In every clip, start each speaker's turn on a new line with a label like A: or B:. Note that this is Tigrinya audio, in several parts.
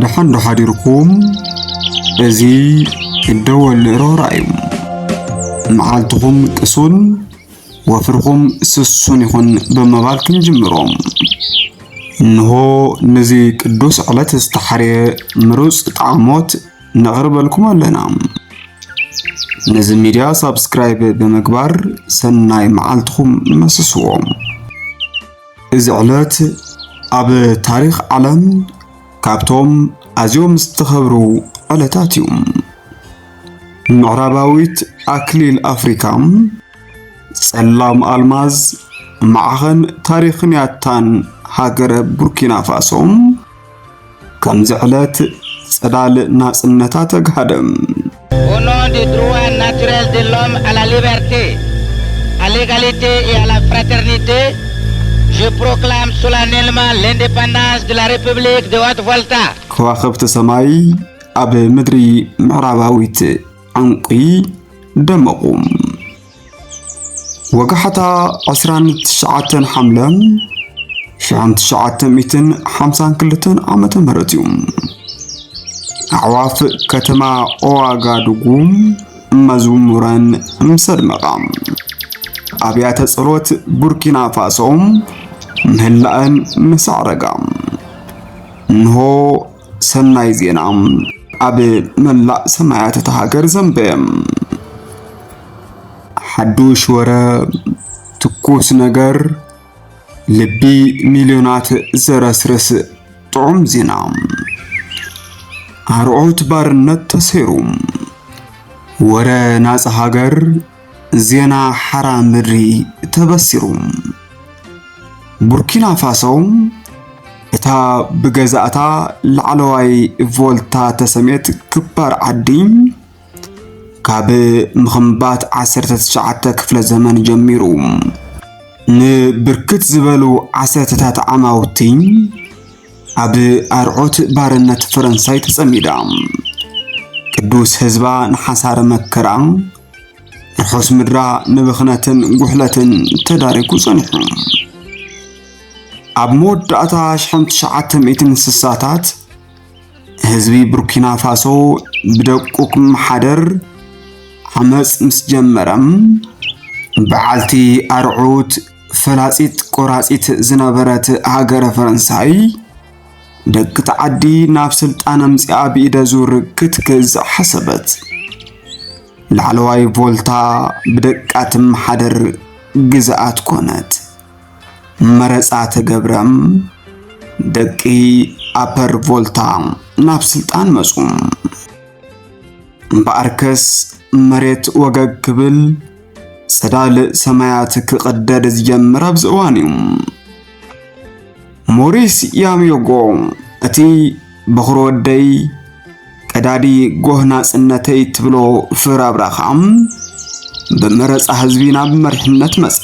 A: ደሓን ዶ ሓዲርኩም እዚ እደወል ንእሮራ እዩ መዓልትኹም ቅሱን ወፍርኹም ስሱን ይኹን ብምባል ክንጅምሮ እንሆ ነዚ ቅዱስ ዕለት ዝተሓርየ ምሩፅ ጣዕሞት ነቕርበልኩም ኣለና ነዚ ሚድያ ሳብስክራይብ ብምግባር ሰናይ መዓልትኹም መስስዎም እዚ ዕለት ኣብ ታሪኽ ዓለም ካብቶም ኣዝዮም ዝተኸብሩ ዕለታት እዩ። ምዕራባዊት ኣክሊል ኣፍሪካ ጸላም ኣልማዝ ማዕኸን ታሪኽን ያታን ሃገረ ቡርኪና ፋሶ ከምዚ ዕለት ጽላል ናጽነታ
B: ተጋሃደም ከዋኸብቲ ሰማይ
A: ኣብ ምድሪ ምዕራባዊት ዕንቁ ደመቑ። ወጋሕታ፣ ዕስራን ትሽዓተን ሓምለ ሽሕን ትሽዓተ ሚእትን ሓምሳን ክልተን ዓመተ ምህረት እዩ። ኣዕዋፍ ከተማ ኦዋጋዱጉ መዝሙረን ምሰድመቓ ኣብያተ ጸሎት ቡርኪና ፋሶ ምህላእን ምሰዕረጋ እንሆ ሰናይ ዜና ኣብ መላእ ሰማያት እታ ሃገር ዘንበየ። ሓዱሽ ወረ፣ ትኩስ ነገር፣ ልቢ ሚልዮናት ዘረስርስ ጥዑም ዜና። ኣርዑት ባርነት ተሰይሩ፣ ወረ ናጻ ሃገር ዜና ሓራ ምድሪ ተበሲሩ። ቡርኪና ፋሶ እታ ብገዛእታ ላዕለዋይ ቮልታ ተሰሜት ክባር ዓዲ ካብ ምኽንባት 19 ክፍለ ዘመን ጀሚሩ ንብርክት ዝበሉ ዓሰርተታት ዓማውቲ ኣብ ኣርዑት ባርነት ፈረንሳይ ተጸሚዳ ቅዱስ ህዝባ ንሓሳረ መከራ ርሑስ ምድራ ንብኽነትን ጉሕለትን ተዳሪጉ ጸኒሑ ኣብ መወዳእታ ሽሕን ትሽዓተ ሚእትን ስሳታት ህዝቢ ቡርኪና ፋሶ ብደቁቅ ምሓደር ዓመፅ ምስ ጀመረም በዓልቲ ኣርዑት ፈላፂት ቆራፂት ዝነበረት ሃገረ ፈረንሳይ ደግቲ ዓዲ ናብ ስልጣን ኣምጺኣ ብኢደ ዙር ክትገዝእ ሓሰበት። ላዕለዋይ ቮልታ ብደቃ ትመሓደር ግዝኣት ኮነት። መረፃ ተገብረም ደቂ ኣፐር ቮልታ ናብ ስልጣን መፁ። እምበኣርከስ መሬት ወገግ ክብል ጸዳል ሰማያት ክቕደድ ዝጀምር ኣብዚ እዋን እዩ። ሞሪስ ያምዮጎ እቲ በኹሪ ወደይ ቀዳዲ ጎህ ናጽነተይ ትብሎ ፍራብራ ኸዓ ብመረፃ ህዝቢ ናብ መሪሕነት መጸ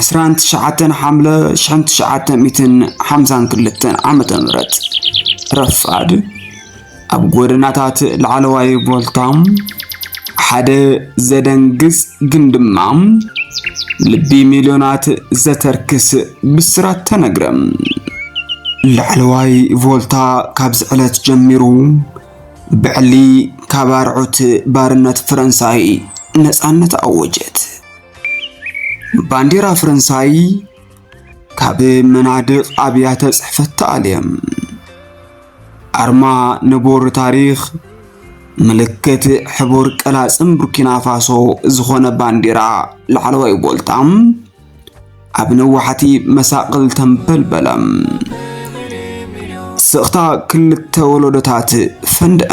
A: 29 ሓምለ 1952 ዓ ም ረፋድ ኣብ ጎደናታት ላዕለዋይ ቮልታም ሓደ ዘደንግጽ ግን ድማ ልቢ ሚልዮናት ዘተርክስ ብስራት ተነግረ። ላዕለዋይ ቮልታ ካብዚ ዕለት ጀሚሩ ብዕሊ ካብ ኣርዑት ባርነት ፈረንሳይ ነፃነት ኣወጀት። ባንዲራ ፈረንሳይ ካብ መናድቕ ኣብያተ ጽሕፈት ተኣልየ። ኣርማ ንቡር ታሪኽ ምልክት ሕቡር ቀላጽም ቡርኪና ፋሶ ዝኾነ ባንዴራ ላዕለዋይ ቦልታ ኣብ ነዋሕቲ መሳቕል ተንበልበለ። ስቕታ ክልተ ወለዶታት ፈንድአ።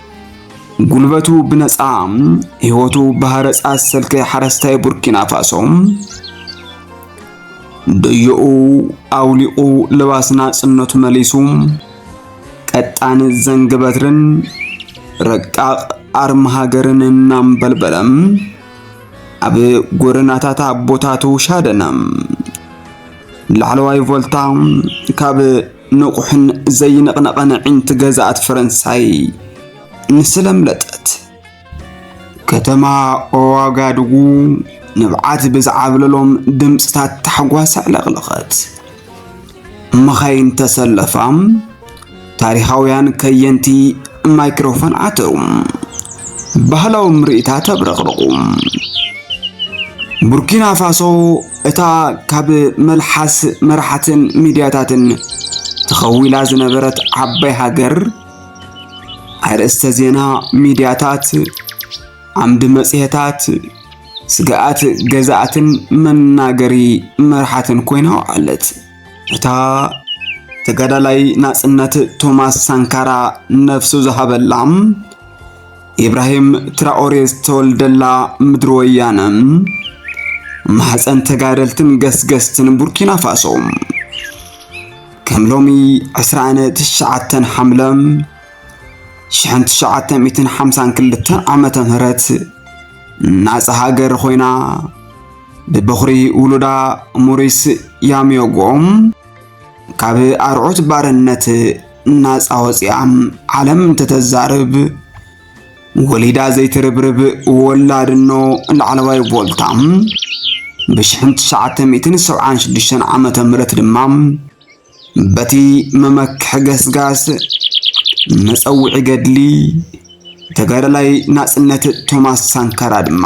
A: ጉልበቱ ብነጻ ህይወቱ ብሃረጻ ዝሰልከ ሓረስታይ ቡርኪና ፋሶ ደዮኡ ኣውሊቑ ልባስ ናጽነቱ መሊሱ ቀጣን ዘንግ በትርን ረቃቕ ኣርማ ሃገርን እናንበልበለም ኣብ ጎደናታት ኣቦታቱ ሻደነ ላዕለዋይ ቮልታ ካብ ንቑሕን ዘይንቕነቐን ኣዒንቲ ገዛእት ፈረንሳይ ንስለምለጠት። ከተማ ኦዋጋዱጉ ንብዓት ብዝዓብለሎም ድምፅታት ታሕጓስ ኣዕለቕለቐት። መኻይን ተሰለፋ። ታሪኻውያን ከየንቲ ማይክሮፎን ዓተሩ። ባህላዊ ምርኢታት ተብረቕረቑ። ቡርኪና ፋሶ እታ ካብ መልሓስ መራሕትን ሚድያታትን ተኸዊላ ዝነበረት ዓባይ ሃገር ኣርእስተ ዜና ሚድያታት፣ ዓምዲ መጽሔታት፣ ስግኣት ገዛእትን መናገሪ መርሓትን ኮይና ውዓለት። እታ ተጋዳላይ ናጽነት ቶማስ ሳንካራ ነፍሱ ዝሃበላም ኢብራሂም ትራኦሬ ዝተወልደላ ምድሪ ወያነ ማሕፀን ተጋደልትን ገስገስትን ቡርኪና ፋሶ ከም ሎሚ 29 ሓምለ 1952 ዓመተ ምህረት ናፃ ሃገር ኮይና ብበኹሪ ውሉዳ ሞሪስ ያሚዮጎ ካብ ኣርዑት ባርነት ናፃ ወፂኣ ዓለም እንተተዛርብ ወሊዳ ዘይትርብርብ ወላድኖ ላዕለዋይ ቮልታ ብ1976 ዓ ም ድማ በቲ መመክሒ ገስጋስ መፀውዒ ገድሊ ተጋዳላይ ናፅነት ቶማስ ሳንካራ ድማ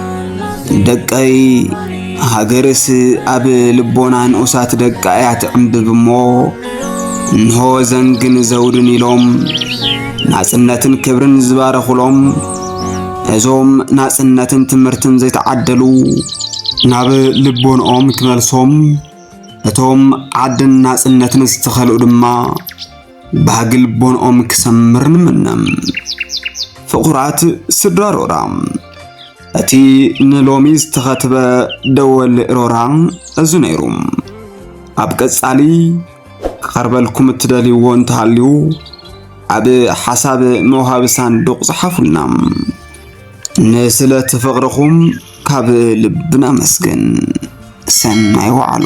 A: ደቀይ ሃገርስ ኣብ ልቦና ንኡሳት ደቃ እያ ትዕምብብ እሞ እንሆ ዘንግን ዘውድን ኢሎም ናጽነትን ክብርን ዝባረኹሎም እዞም ናጽነትን ትምህርትን ዘይተዓደሉ ናብ ልቦንኦም ክመልሶም እቶም ዓድን ናጽነትን ዝተኸልኡ ድማ ባህጊ ልቦንኦም ክሰምር ንምነ። ፍቑራት ስድራ ሮራ እቲ ንሎሚ ዝተኸትበ ደወል ሮራ እዚ ነይሩ። ኣብ ቀጻሊ ክቐርበልኩም እትደልይዎ እንተሃልዩ ኣብ ሓሳብ መውሃቢ ሳንዱቕ ጽሓፉልና። ንስለ ፍቕርኹም ካብ ልብና መስግን። ሰናይ ወዓሉ።